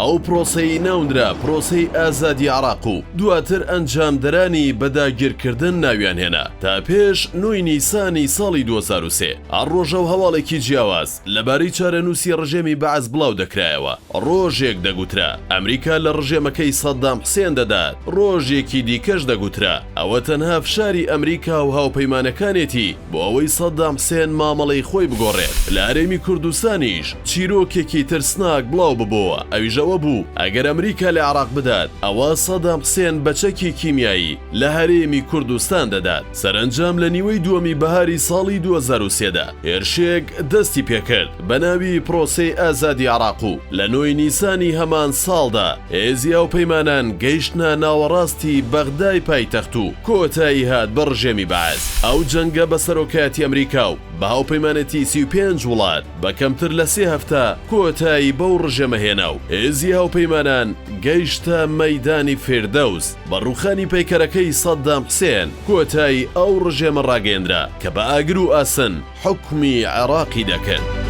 ئەو پرۆسەی ناونرا پرۆسەی ئازادی عراق و دواتر ئەنجامدەرانی بە داگیرکردن ناویان هێنا تا پێش نۆی نیسانی ساڵی دوو هەزار و سێ هەر ڕۆژەو هەواڵێکی جیاواز لە بارەی چارەنووسی ڕژێمی بەعس بڵاو دەکرایەوە ڕۆژێک دەگوترا ئەمریکا لە ڕژێمەکەی سەدام حسێن دەدات ڕۆژێکی دیکەش دەگوترا ئەوە تەنها فشاری ئەمریکاو هاوپەیمانەکانێتی بۆ ئەوەی سەدام حسێن مامەڵەی خۆی بگۆڕێت لە هەرێمی کوردستانیش چیرۆکێکی ترسناک بڵاو ببۆوە ئەویش ئەوە بوو ئەگەر ئەمریکا لە عێراق بدات ئەوا سەدام حسێن بە چەکی کیمیایی لە هەرێمی کوردستان دەدات سەرەنجام لە نیوەی دووەمی بەهاری ساڵی دوو هەزار و سێ دا هێرشێک دەستی پێکرد بە ناوی پرۆسەی ئازادی عێراق و لە نۆی نیسانی هەمان ساڵدا هێزی هاوپەیمانان گەیشتنە ناوەڕاستی بەغدای پایتەخت و کۆتایی هات بە ڕژێمی بەعس. ئەو جەنگە بە سەرۆکایەتی ئەمریکا و بە هاوپەیمانێتی سی و پێنج وڵات بە کەمتر لە سێ هەفتە کۆتایی بەو ڕژێمە هێنا و هێزی هاوپەیمانان گەیشتە مەیدانی فیردەوس. بە ڕووخانی پەیکەرەکەی سەددام حسێن کۆتایی ئەو ڕژێمە ڕاگەیەندرا کە بە ئاگر و ئاسن، حوکمی عێڕاقی دەکرد.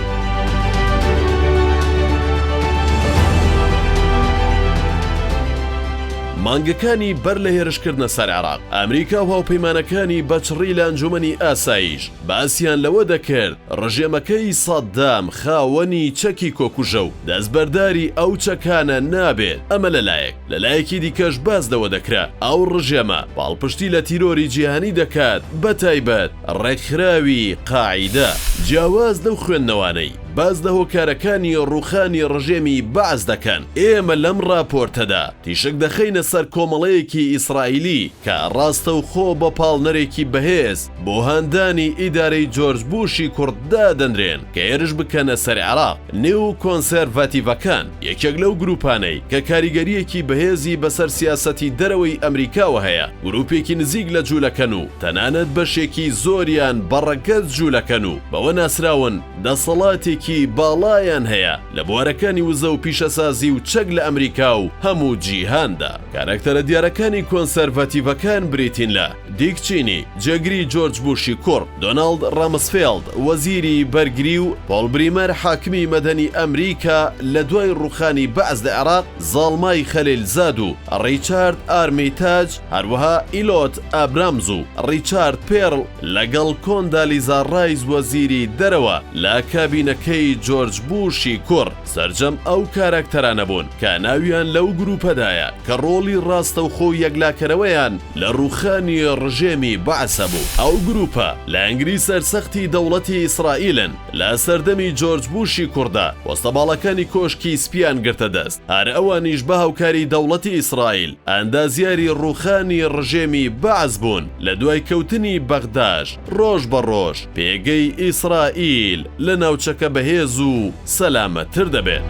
مانگەکانی بەر لە هێرشکردنە سەر عێڕاق، ئەمریکا و هاوپەیمانەکانی بەچڕی لە ئەنجومەنی ئاسایش باسیان لەوە دەکرد ڕژێمەکەی سەددام خاوەنی چەکی کۆکوژە و دەستبەرداری ئەو چەکانە نابێت، ئەمە لە لایەک، لە لایەکی دیکەش باس لەوە دەکرا ئەو ڕژێمە پاڵپشتی لە تیرۆری جیهانی دەکات بەتایبەت، ڕێکخراوی قاعیدە جیاواز لەو خوێندنەوانەی باس لە هۆکارەکانی ڕووخانی ڕژێمی بەعس دەکەن، ئێمە لەم ڕاپۆرتەدا تیشک دەخەینە سەر کۆمەڵەیەکی ئیسرائیلی کە ڕاستەوخۆ بە پاڵنەرێکی بەهێز بۆ هاندانی ئیدارەی جۆرج بوشی کوڕ دادەنرێن کە هێرش بکەنە سەر عێراق. نێو کۆنسێرڤاتیڤەکان یەکێک لەو گرووپانەی کە کاریگەرییەکی بەهێزی بەسەر سیاسەتی دەرەوەی ئەمریکاوە هەیە، گرووپێکی نزیک لە جوولەکەن و تەنانەت بەشێکی زۆریان بە ڕەگەز جوولەکەن و بەوە ناسراون دەسەڵاتێکی باڵایان هەیە لە بوارەکانی وزە و پیشەسازی و چەک لە ئەمریکا و هەموو جیهاندا. کارەکتەرە دیارەکانی کۆنسێرڤاتیڤەکان بریتین لە. دیک چینی، جێگری جۆرج بوشی کوڕ، دۆناڵد ڕامسفێڵد، وەزیری بەرگری و پۆڵ بریمەر، حاکمی مەدەنی ئەمریکا لە دوای ڕووخانی بەعس لە عێراق، زاڵمای خەلیلزاد و ڕیچارد ئارمیتاج، هەروەها ئیلۆت ئابرامز و ڕیچارد پێرڵ، لەگەڵ کۆندالیزا ڕایس وەزیری دەرەوە لە کابینەکەی جۆرج بوشی کوڕ. سەرجەم ئەو کاراکتەرانە بوون کە ناویان لەو گرووپەدایە کە ڕۆڵی ڕاستەوخۆ و یەکلاکەرەوەیان لە ڕووخانی ڕژێمی بەعسە بوو. ئەو گرووپە لە ئەنگری سەرسەختی دەوڵەتی ئیسرائیلن، لە سەردەمی جۆرج بووشی کوڕدا پۆستە باڵاکانی کۆشکی سپییان گرتە دەست، هەر ئەوانیش بە هاوکاری دەوڵەتی ئیسرائیل ئەندازیاری ڕووخانی ڕژێمی بەعس بوون لە دوای کەوتنی بەغداش. ڕۆژ بە ڕۆژ پێگەی ئیسرائیل لە ناوچەکە بەهێز و سەلامەتتر دەبێت.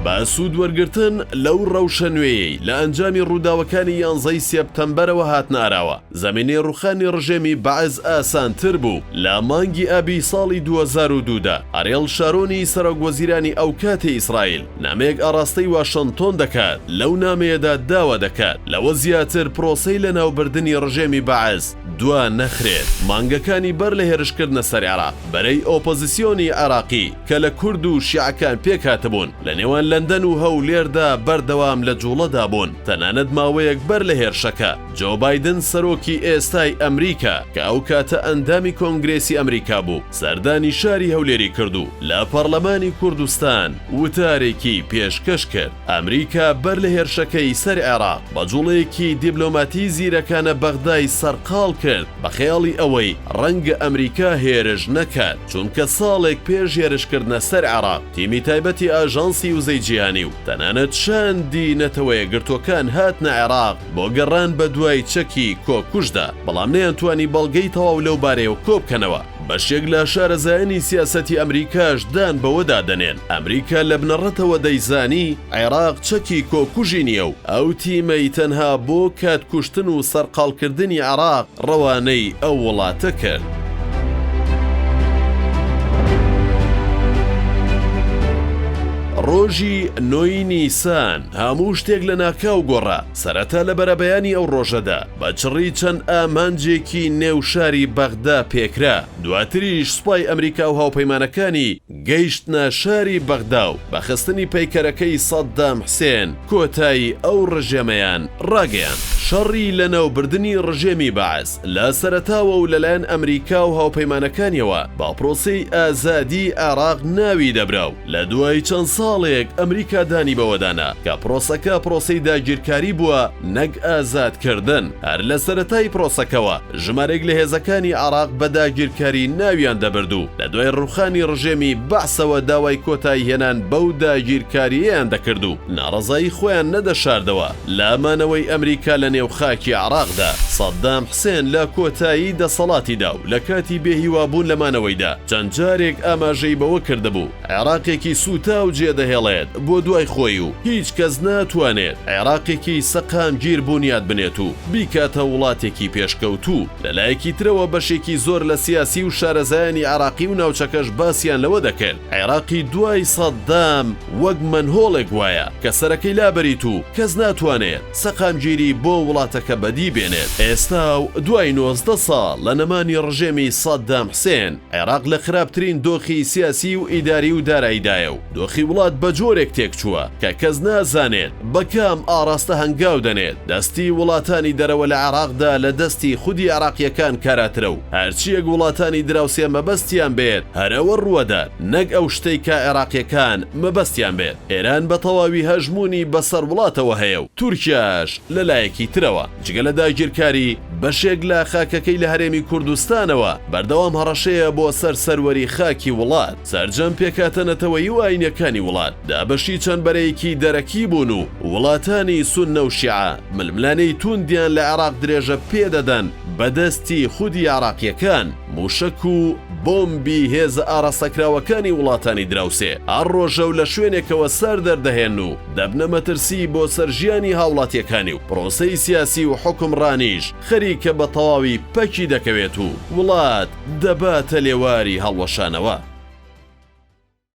بە سوود وەرگرتن لەو ڕەوشە نوێیەی لە ئەنجامی ڕووداوەکانی یانزە ی سێپتەمبەرەوە هاتنە ئاراوە، زەمینەی ڕووخانی ڕژێمی بەعس ئاسانتر بوو، لە مانگی ئابی ساڵی دوو هەزار و دوو دا، ئەریێڵ شارۆنی سەرۆکوەزیرانی ئەوکاتی ئیسرائیل، نامەیەک ئاڕاستەی واشنتۆن دەکات، لەو نامەیەدا داوا دەکات لەوە زیاتر پرۆسەی لەناوبردنی ڕژێمی بەعس دوا نەخرێت. مانگەکانی بەر لە هێرشکردنە سەر عێراق، بەرەی ئۆپۆزیسیۆنی عێراقی کە لە کورد و شیعەکان پێکهاتبوون، لە نێوان لەندەن و هەولێردا بەردەوام لە جووڵەدا بوون. تەنانەت ماوەیەک بەر لە هێرشەکە، جۆ بایدن سەرۆکی ئێستای ئەمریکا کە ئەو کاتە ئەندامی کۆنگرێسی ئەمریکا بوو، سەردانی شاری هەولێری کرد و لە پەڕلەمانی کوردستان وتارێکی پێشکەش کرد. ئەمریکا بەر لە هێرشەکەی سەر عێراق، بە جووڵەیەکی دیبلۆماتی زیرەکانە بەغدای سەرقاڵ کرد بە خەیاڵی ئەوەی ڕەنگە ئەمریکا هێرش نەکات، چونکە ساڵێک پێش هێرشکردنە سەر عێراق، تیمی تایبەتی ئاژانسی وزەی جیهانی و تەنانەت شاندی نەتەوەیەکگرتووەکان هاتنە عێراق، بۆ گەڕان بەدوای چەکی کۆکوژدا، بەڵام نەیانتوانی بەڵگەی تەواو لەو بارەیەوە کۆبکەنەوە. بەشێک لە شارەزایانی سیاسەتی ئەمریکاش دان بەوەدا دەنێن ئەمریکا لە بنەڕەتەوە دەیزانی عێراق چەکی کۆکوژی نییە و ئەو تیمەی تەنها بۆ کات کوشتن و سەرقاڵکردنی عێراق ڕەوانەی ئەو وڵاتە کرد. ڕۆژی نۆ ی نیسان، هەموو شتێک لەناکاو گۆڕا، سەرەتا لە بەرەبەیانی ئەو ڕۆژەدا بە چڕی چەند ئامانجێکی نێو شاری بەغدا پێکرا، دواتریش سوپای ئەمریکا و هاوپەیمانەکانی گەیشتنە شاری بەغدا و بە خستنی پەیکەرەکەی سەددام حسێن کۆتایی ئەو ڕژێمەیان ڕاگەیاند. شەڕی لەناوبردنی ڕژێمی بەعس لە سەرەتاوە و لەلایەن ئەمریکا و هاوپەیمانەکانیەوە بە پرۆسەی ئازادیی عێراق ناوی دەبرا و، لە دوای چەند ساڵێک ئەمریکا دانی بەوەدا نا کە پرۆسەکە پرۆسەی داگیرکاری بووە نەک ئازادکردن، هەر لە سەرەتای پرۆسەکەوە ژمارێک لە هێزەکانی عێراق بە داگیرکاری ناویان دەبرد و لە دوای ڕووخانی ڕژێمی بەعسەوە داوای کۆتاییهێنان بەو داگیرکارییەیان دەکرد و ناڕەزایی خۆیان نەدەشاردەوە. لە مانەوەی ئەمریکا لە نێو خاکی عێراقدا، سەدام حسێن لە کۆتایی دەسەڵاتیدا و لە کاتی بێ هیوابوون لە مانەوەیدا، چەند جارێک ئاماژەی بەوە کردبوو، عێراقێکی سووتاو جێدەهێڵێت بۆ دوای خۆی و هیچ کەس ناتوانێت عێراقێکی سەقامگیر بونیاد بنێت و بیکاتە وڵاتێکی پێشکەوتوو. لە لایەکی ترەوە بەشێکی زۆر لە سیاسی و شارەزایانی عێراقی و ناوچەکەش باسیان لەوە دەکرد، عێراقی دوای سەدام وەک مەنهۆڵێک وایە کە سەرەکەی لابەریت و کەس ناتوانێت سەقامگیری بۆ وڵاتەکە بەدی بێنێت ئێستا و دوای نۆزدە ساڵ لە نەمانی ڕژێمی سەدام حسێن عێراق لە خراپترین دۆخی سیاسی و ئیداری و دارایدایە و دۆخی وڵات بە جۆرێک تێکچووە کە کەس نازانێت بە کام ئاڕاستە هەنگاو دەنێت دەستی وڵاتانی دەرەوە لە عێراقدا لە دەستی خودی عێراقییەکان کاراترە و هەرچیەک وڵاتانی دراوسێ مەبەستیان بێت هەر ئەوە ڕووەدات نەک ئەو شتەی کە عێراقیەکان مەبەستیان بێت ئێران بە تەواوی هەژموونی بەسەر وڵاتەوە هەیە و تورکیاش لە لایەکی ترەوە جگە لە داگیرکاری بەشێک لە خاکەکەی لە هەرێمی کوردستانەوە بەردەوام هەڕەشەیە بۆ سەر سەروەری خاکی وڵات سەرجەم پێکاتە نەتەوەیی و ئاینیەکانی وڵات دابەشی چەند بەرەیەکی دەرەکی بوون و وڵاتانی سوننە و شیعە ململانێی توندیان لە عێراق درێژە پێدەدەن بەدەستی خودی عێراقییەکان مووشەک و بۆمبی هێزە ئاراستەکراوەکانی وڵاتانی دراوسێ هەر ڕۆژەو لە شوێنێکەوە سەر دەردەهێن و دەبنە مەترسیی بۆ سەر ژیانی هاوڵاتییەکانی و پرۆسەی سیاسی و حوکمڕانیش خەریکە بە تەواوی پەکی دەکەوێت و وڵات دەباتە لێواری هەڵوەشانەوە.